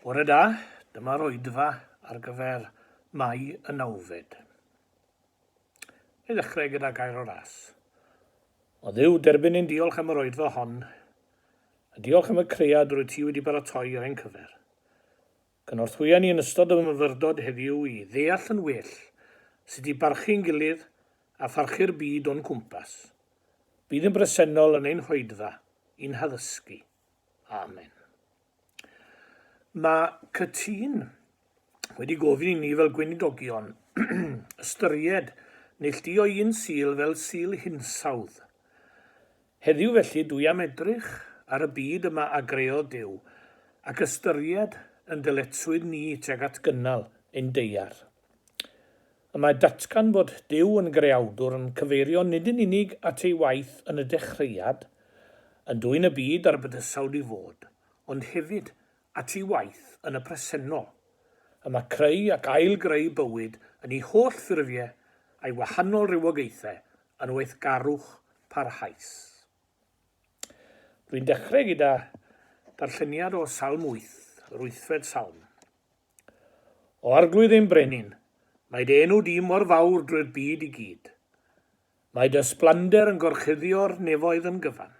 Bore da, dyma'r oedfa ar gyfer Mai y nawfed. I ddechrau gyda gair o ras. O dduw, derbyn ein diolch am yr oedfa hon, a diolch am y cread rwy ti wedi baratoi ar ein cyfer. Cynorthwya ni yn ystod y myfyrdod heddiw i ddeall yn well sut i barchu'n gilydd a pharchu'r byd o'n cwmpas. Bydd yn bresennol yn ein hoedfa i'n haddysgu. Amen. Mae cytun wedi gofyn i ni fel gweinidogion ystyried neilltuo un sil fel sil hinsawdd. Heddiw felly dwi am edrych ar y byd yma a greodd Duw, ac ystyried yn dyletswydd ni tuag at gynnal ein deiar. Y mae datgan fod Duw yn Greawdwr yn cyfeirio nid yn unig at ei waith yn y dechreuad, yn dwyn y byd a'r bydysawd i fod, ond hefyd at ei waith yn y presennol. Y mae creu ac ail-greu bywyd yn ei holl ffurfiau a'i wahanol rywogaethau yn weithgarwch parhaus. Rwy'n dechrau gyda darlleniad o Salm wyth, yr wythfed Salm. O Arglwydd ein Brenin, mae dy enw di mor fawr drwy'r byd i gyd. Mae dy ysblander yn gorchuddio'r nefoedd yn gyfan.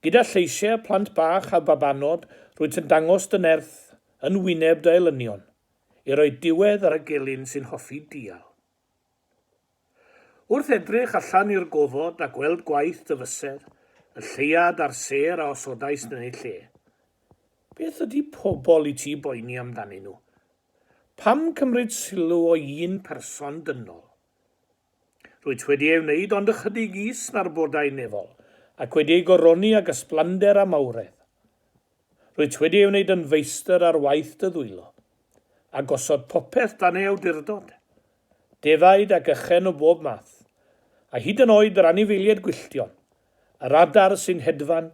Gyda lleisiau plant bach a babanod rwyt yn dangos dy nerth yn wyneb dy elynion, i roi diwedd ar y gelyn sy'n hoffi dial. Wrth edrych allan i'r gofod a gweld gwaith dy fysedd, y lleuad a'r sêr a osodais yn eu lle, beth ydy pobl i ti boeni amdanyn nhw? Pam cymryd sylw o un person dynol? Rwyt wedi ei wneud ond ychydig is narbodau nefol, ac wedi ei goroni ag ysblander a mawredd. Rwyt wedi ei wneud yn feistr ar waith dy ddwylo, a gosod popeth dan ei awdurdod, defaid ac ychen o bob math, a hyd yn oed yr anifeiliaid gwylltion, yr adar sy'n hedfan,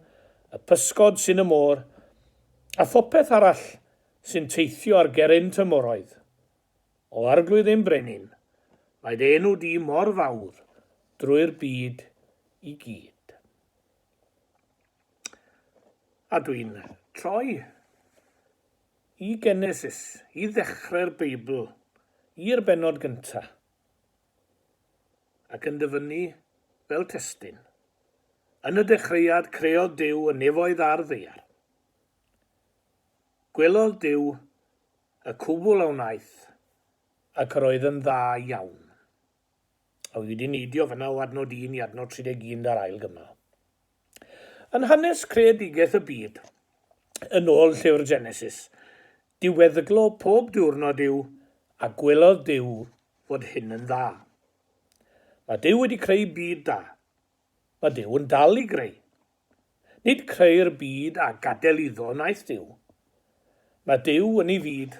y pysgod sy'n y môr, a phopeth arall sy'n teithio ar gerrynt y moroedd. O Arglwydd ein Brenin, mae dy enw di mor fawr drwy'r byd i gyd. A dwi'n troi i Genesis, i ddechrau'r Beibl, i'r bennod gynta, ac yn dyfynnu fel testun. Yn y dechreuad creodd Duw y nefoedd a'r ddeiar. Gwelodd Duw y cwbl a wnaeth, ac yr oedd yn dda iawn. Oedd wedi neidio fyna o adnod un i adnod 31 ar ail gymal. Yn hanes creadigaeth y byd, yn ôl llyfr Genesis, diweddglo pob diwrnod yw, a gwelodd Duw fod hyn yn dda. Mae Duw wedi creu byd da. Mae Duw yn dal i greu. Nid creu'r byd a gadael iddo wnaeth Duw. Mae Duw yn ei fyd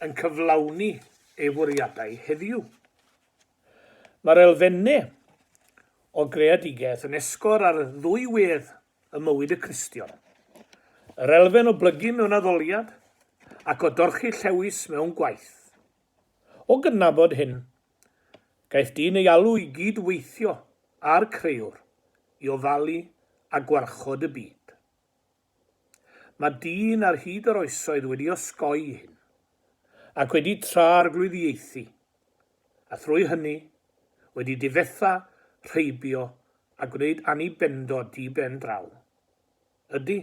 yn cyflawni ei fwriadau heddiw. Mae'r elfennau o greadigaeth yn esgor ar ddwy wedd ym mywyd y Cristion, yr elfen o blygu mewn addoliad ac o dorchi llewys mewn gwaith. O gydnabod hyn, gaeth dyn ei alw i gyd-weithio â'r Crëwr i ofalu a gwarchod y byd. Mae dyn ar hyd yr oesoedd wedi osgoi hyn, ac wedi tra-arglwyddiaethu, a thrwy hynny, wedi difetha, rheibio a gwneud annibendod di-ben-draw. Ydy.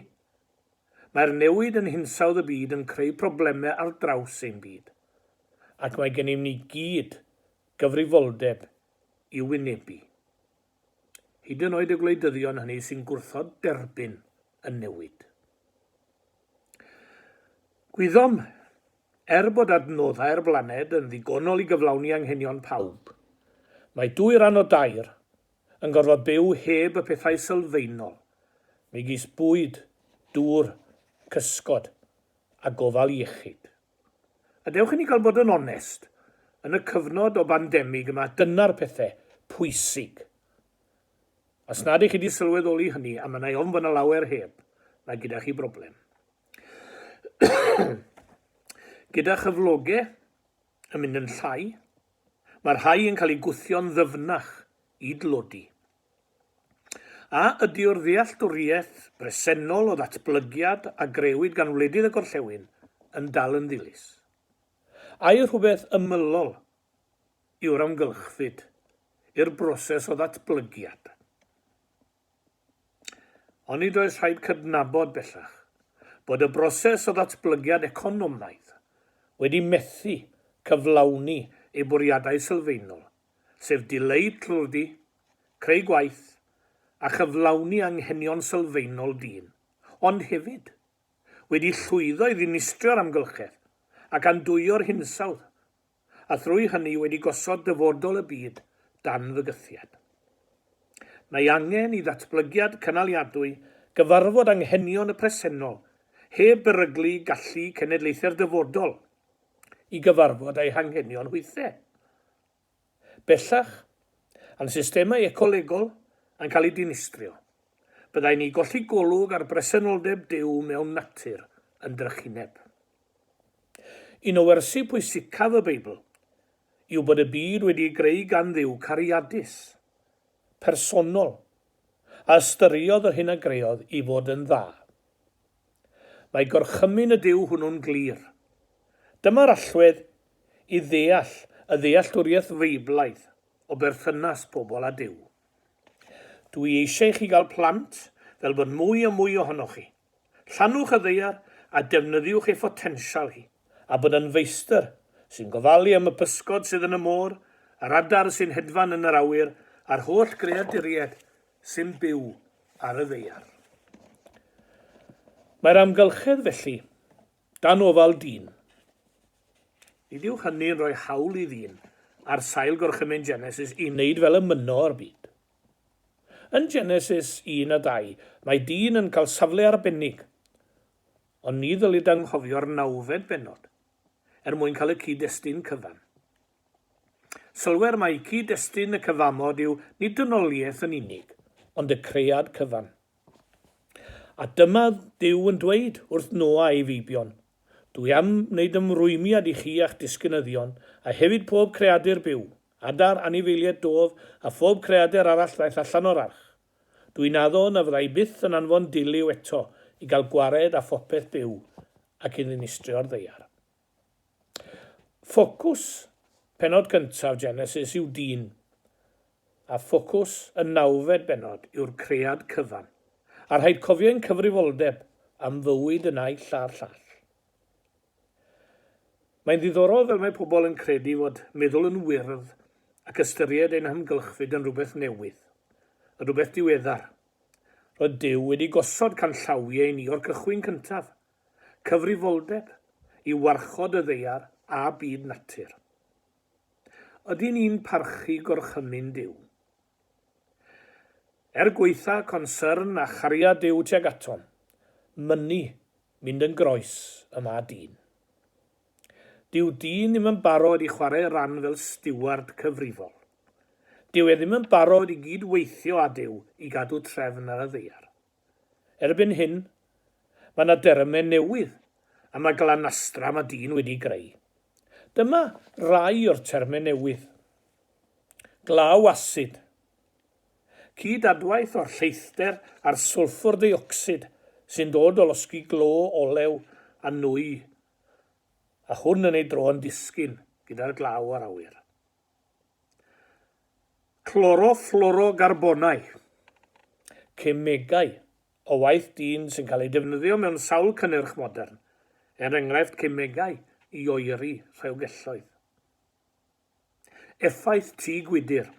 Mae'r newid yn hinsawdd y byd yn creu problemau ar draws ein byd, ac mae gennym ni gyd gyfrifoldeb i'w wynebu. Hyd yn oed y gwleidyddion hynny sy'n gwrthod derbyn y newid. Gwyddom, er bod adnoddau'r blaned yn ddigonol i gyflawni anghenion pawb, mae dwy ran o dair yn gorfod byw heb y pethau sylfaenol, megis bwyd, dŵr, cysgod a gofal iechyd. A dewch i ni gael bod yn onest, yn y cyfnod o bandemig yma, dyna'r pethe pwysig. Os nad ych chi 'di sylweddoli hynny, a mynnai ofn bod 'na lawer heb, mae gyda chi broblem. Gyda chyfloge, yn mynd yn llai, mae rhai yn cael eu gwthio'n ddyfnach i dlodi. A ydyw'r ddealltwriaeth bresennol o ddatblygiad a grëwyd gan wledydd y gorllewin yn dal yn ddilys? Ai rhywbeth ymylol yw'r amgylchfyd i'r broses o ddatblygiad? Ond nid oes rhaid cydnabod bellach bod y broses o ddatblygiad economaidd wedi methu cyflawni ei bwriadau sylfaenol, sef dileu tlodi, creu gwaith a chyflawni anghenion sylfaenol dyn, ond hefyd wedi llwyddo i ddinistrio'r amgylchedd ac andwyo'r hinsawdd a thrwy hynny wedi gosod dyfodol y byd dan fygythiad. Mae angen i ddatblygiad cynaliadwy gyfarfod anghenion y presennol, heb beryglu gallu cenedlaethau'r dyfodol i gyfarfod â'i hanghenion hwythau. Bellach, a'n systemau ecolegol yn cael eu dinistrio, byddai'n ni golli golwg ar bresenoldeb Duw mewn natur yn drychineb. Un o wersi pwysicaf y Beibl yw bod y byd wedi'i greu gan Dduw cariadus, personol, a ystyriodd yr hyn a greodd i fod yn dda. Mae gorchymyn y Duw hwnnw'n glir. Dyma'r allwedd i ddeall y ddealltwriaeth Feiblaidd o berthynas pobl â Duw. Dw i eisiau i chi gael plant fel bod mwy a mwy ohonoch chi Llannwch y ddaear a defnyddiwch ei photensial hi, a bod yn feistr sy'n gofalu am y pysgod sydd yn y môr, yr adar sy'n hedfan yn yr awyr a'r holl greaduriaid sy'n byw ar y ddaear. Mae'r amgylchedd, felly, dan ofal dyn. Nid yw hynny'n rhoi hawl i ddyn, ar sail gorchymyn Genesis, i wneud fel y mynno'r byd. Yn Genesis un a dau, mae dyn yn cael safle arbennig, ond ni ddylid anghofio'r nawfed bennod, er mwyn cael y cyd-destun cyfan. Sylwer mai cyd-destun y cyfamod yw nid dynoliaeth yn unig, ond y cread cyfan. A dyma Duw yn dweud wrth Noa a'i feibion, Dwi am wneud ymrwymiad i chi a'ch disgynyddion, a hefyd pob creadur byw, Adar, anifeilied, dof, a phob creadur arall ddaeth allan o'r arch. Dw i'n addo na fydda i byth yn anfon Duliw eto i gael gwared â phopeth byw ac i ddinistrio'r ddaear. Ffocws pennod gyntaf Genesis yw dyn, a ffocws y nawfed bennod yw'r cread cyfan, a rhaid cofio ein cyfrifoldeb am fywyd y naill a'r llall. Mae'n ddiddorol fel mae pobl yn credu fod meddwl yn wyrdd ac ystyried ein hamgylchfyd yn rhywbeth newydd, yn rhywbeth diweddar. Roedd Duw wedi gosod canllawiau i ni o'r cychwyn cyntaf, cyfrifoldeb i warchod y ddaear a byd natur. Ydyn ni'n parchu gorchymyn Duw? Er gwaetha consyrn a chariad Duw tuag atom, mynnu mynd yn groes y mae dyn. Dyw dyn ddim yn barod i chwarae ran fel stiward cyfrifol. Dyw e ddim yn barod i gyd-weithio â Duw i gadw trefn ar y ddaear. Erbyn hyn, mae yna derymau newydd am y glanastra mae dyn wedi'i greu. Dyma rai o'r termau newydd. Glaw asid. Cyd-adwaith o'r lleithder a'r swlffwr deuocsid sy'n dod o losgi glo olew a nwy a hwn yn ei dro yn disgyn gyda'r glaw a'r awyr. Cloroflwrogarbonau, cemegau o waith dyn sy'n cael eu defnyddio mewn sawl cynnyrch modern, er enghraifft cemegau i oeri rhewgelloedd. Effaith tŷ gwydr,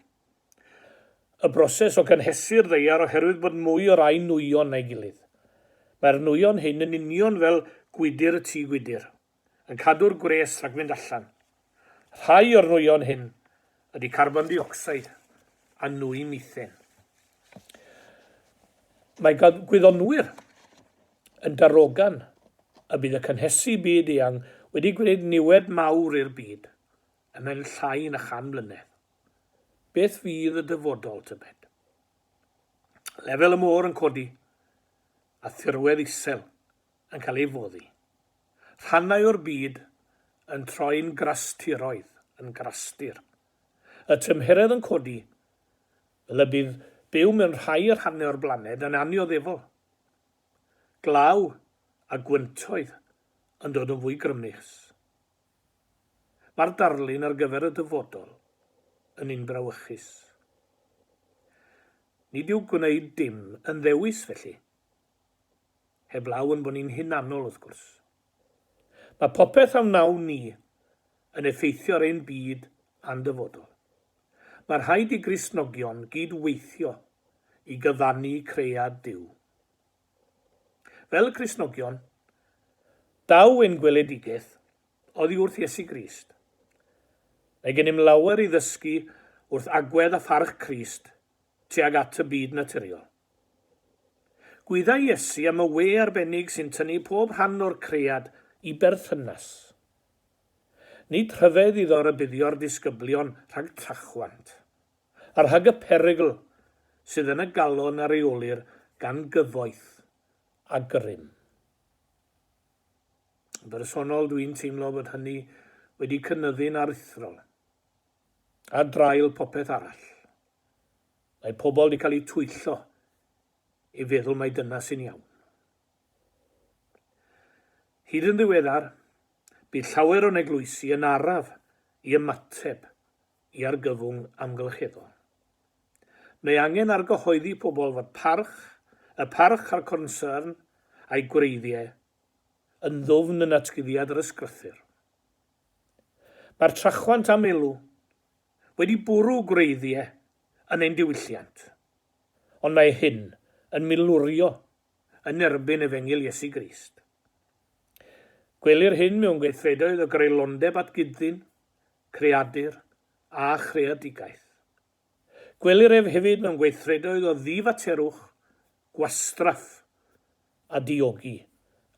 y broses o gynhesu'r ddaear oherwydd bod mwy o rai nwyon na'i gilydd. Mae'r nwyon hyn yn union fel gwydr y tŷ gwydr, yn cadw'r gwres rhag mynd allan. Rhai o'r nwyon hyn ydy carbon deuocsid a nwy methane. Mae gan gwyddonwyr yn darogan y bydd y cynhesu byd eang wedi gwneud niwed mawr i'r byd ymhen llai na chan mlynedd. Beth fydd y dyfodol, tybed? Lefel y môr yn codi a thirwedd isel yn cael ei foddi, rhannau o'r byd yn troi'n grastiroedd, yn grastir. Y tymheredd yn codi, fel y bydd byw mewn rhai rhannau o'r blaned yn annioddefol. Glaw a gwyntoedd yn dod yn fwy grymus. Mae'r darlun ar gyfer y dyfodol yn un brawychus. Nid yw gwneud dim yn ddewis felly. Heblaw ein bod ni'n hunanol, wrth gwrs. Mae popeth a wnawn ni yn effeithio ar ein byd a'n dyfodol. Mae rhaid i Gristnogion gyd-weithio i gyfannu cread Duw. Fel Cristnogion, daw ein gweledigaeth oddi wrth Iesu Grist. Mae gennym lawer i ddysgu wrth agwedd a pharch Crist tuag at y byd naturiol. Gwyddai Iesu am y we arbennig sy'n tynnu pob rhan o'r cread i berthynas. Nid rhyfedd iddo rybuddio'r disgyblion rhag trachwant, a rhag y perygl sydd yn y galon a reolir gan gyfoeth a grym. Yn bersonol, dwi'n teimlo bod hynny wedi cynyddu'n aruthrol, ar draul popeth arall. Mae pobl di cael eu twyllo i feddwl mai dyna sy'n iawn. Hyd yn ddiweddar, bu llawer o'n eglwysi yn araf i ymateb i argyfwng amgylcheddol. Mae angen argyhoeddi pobl fod parch, y parch a'r cornsyrn a'i gwreiddiau, yn ddwfn yn natguddiad yr ysgrythur. Mae'r trachwant am elw wedi bwrw gwreiddiau yn ein diwylliant, ond mae hyn yn milwrio yn erbyn efengyl Iesu Grist. Gwelir hyn mewn gweithredoedd o greulondeb at gyd-ddyn, creadur a chreadigaeth. Gwelir ef hefyd mewn gweithredoedd o ddifaterwch, gwastraff a diogi,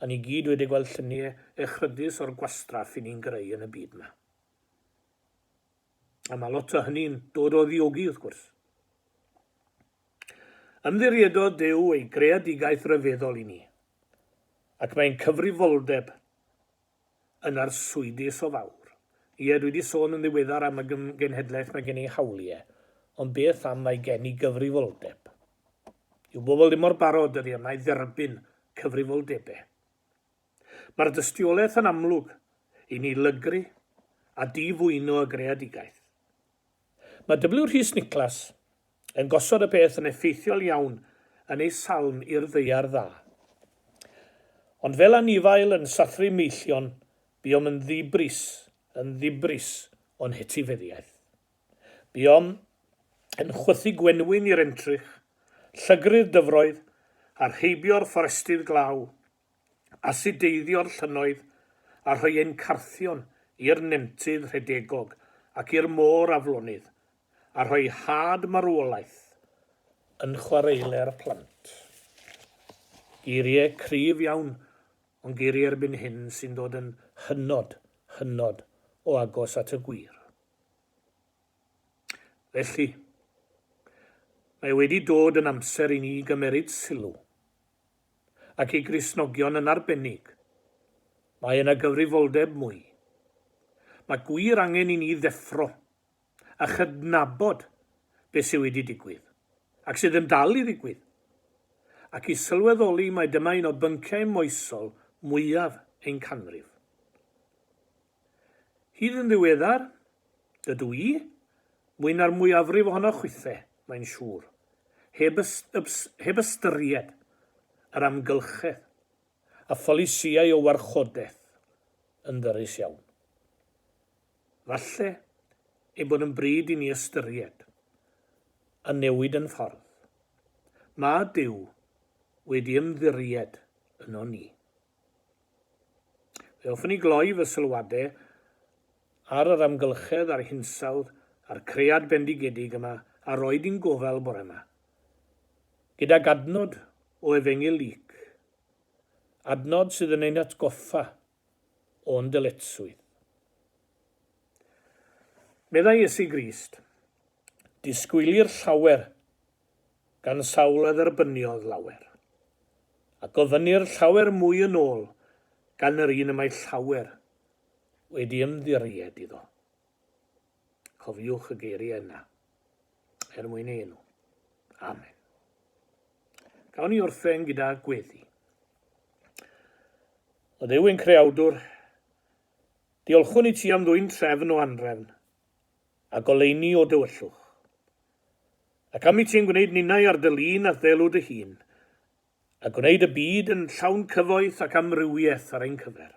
a ni gyd wedi gweld lluniau echrydus o'r gwastraff 'yn ni'n greu yn y byd 'ma. A mae lot o hynny'n dod o ddiogi, wrth gwrs. Ymddiriedodd Duw ei greadigaeth ryfeddol i ni, ac mae'n cyfrifoldeb yn arswydus o fawr. Ie, dwi wedi sôn yn ddiweddar am y genhedlaeth mae gen ei hawliau, ond beth am mae gen i gyfrifoldeb? Yw bobl ddim mor barod dyddiau yma i dderbyn cyfrifoldebau? Mae'r dystiolaeth yn amlwg i ni lygru a di-fwyno y greadigaeth. Mae W. Rhys Niclas yn gosod y peth yn effeithiol iawn yn ei salm i'r Ddaear Dda. Ond fel anifail yn sathru meillion, buom yn ddibris, yn ddibris o'n hetifeddiaeth. Buom yn chwythu gwenwyn i'r entrych, llygru'r dyfroedd, a'r heibio'r fforestydd glaw, asideiddio'r llynnoedd a rhoi ein carthion i'r nentydd rhedegog ac i'r môr aflonydd, a rhoi had marwolaeth yn chwareule'r plant. Geiriau cryf iawn, ond geiriau erbyn hyn sy'n dod yn hynod, hynod o agos at y gwir. Felly, mae wedi dod yn amser i ni gymeryd sylw. ac i Gristnogion yn arbennig, mae yna gyfrifoldeb mwy. Mae gwir angen i ni ddeffro a chydnabod beth sydd wedi digwydd, ac sydd yn dal i ddigwydd, ac i sylweddoli mai dyma un o bynciau moesol mwyaf ein canrif. Hyd yn ddiweddar, dydw i, mwy na'r mwyafrif ohonoch chwithe, mae'n siŵr, heb ys-ys heb ystyried yr amgylchedd, y pholisïau o warchodaeth yn ddyrys iawn. Falle ei bod yn bryd i ni ystyried y newid yn ffordd mae Duw wedi ymddiried ynon ni. Fe hoffwn i gloi fy sylwadau ar yr amgylchedd a'r hinsawdd a'r cread bendigedig yma a roed i'n gofal bore yma, gydag adnod o Efengyl Luc, adnod sydd yn ein hatgoffa o'n dyletswydd. Meddai Iesu Grist, Disgwylir llawer gan sawl a dderbyniodd lawer. A gofynnir llawer mwy yn ôl gan yr un y mae llawer wedi ymddiried iddo. Cofiwch y geiriau yna, er mwyn ei enw. Amen. Gawn ni orffen gyda gweddi. O Dduw ein creawdwr, diolchwn i ti am ddwy'n trefn o anrefn, a goleini o dywyllwch. Ac am i ti'n gwneud ninnau ar dy lun a'th ddelw dy hun, a gwneud y byd yn llawn cyfoeth ac amrywiaeth ar ein cyfer.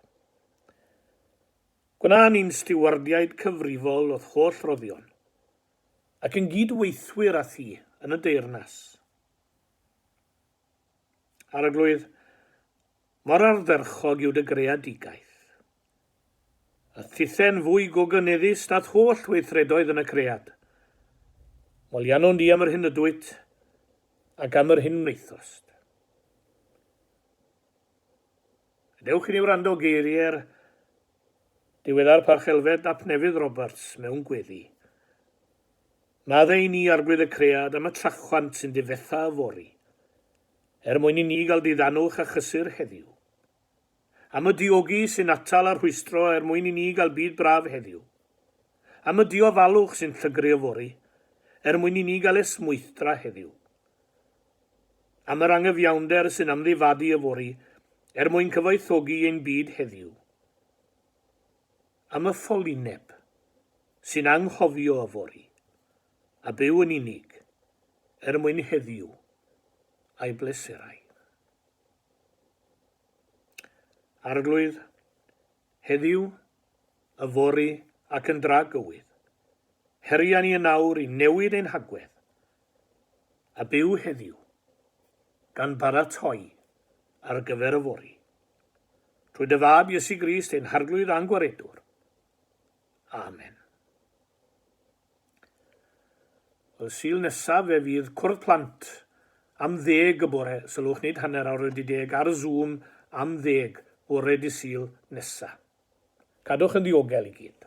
Gwna ni'n stiwardiaid cyfrifol o'th holl roddion, ac yn gyd-weithwyr â thi yn y deyrnas. Arglwydd, mor ardderchog yw dy greadigaeth, a thithen fwy gogyneddus nath holl weithredoedd yn y cread. Molianon di am yr hyn ydwyt, ac am yr hyn wnaethost. Gadewch i ni wrando geiriau'r diweddar Parchelfed ap Nefydd Roberts mewn gweddi. Madde i ni arglwydd y cread am y trachwant sy'n difetha yfory, er mwyn i ni gael diddanwch a chysur heddiw. Am y diogi sy'n atal a rhwystro er mwyn i ni gael byd braf heddiw. Am y diofalwch sy'n llygru yfory er mwyn i ni gael esmwythdra heddiw. Am yr angyfiawnder sy'n amddifadu yfory er mwyn cyfoethogi ein byd heddiw. Am y ffolineb sy'n anghofio yfory a byw yn unig er mwyn heddiw a'i bleserau. Arglwydd, heddiw, yfory ac yn dra gywydd, heria ni yn awr i newid ein hagwedd, a byw heddiw, gan baratoi ar gyfer yfory. Trwy dy fab Iesu Grist, ein Harglwydd a'n Gwaredwr. Amen. Y Sul nesaf fe fydd Cwrdd Plant am ddeg y bore, sylwch nid hanner awr wedi deg, ar Zoom am ddeg, bore Dydd Sul nesa. Cadwch yn ddiogel i gyd.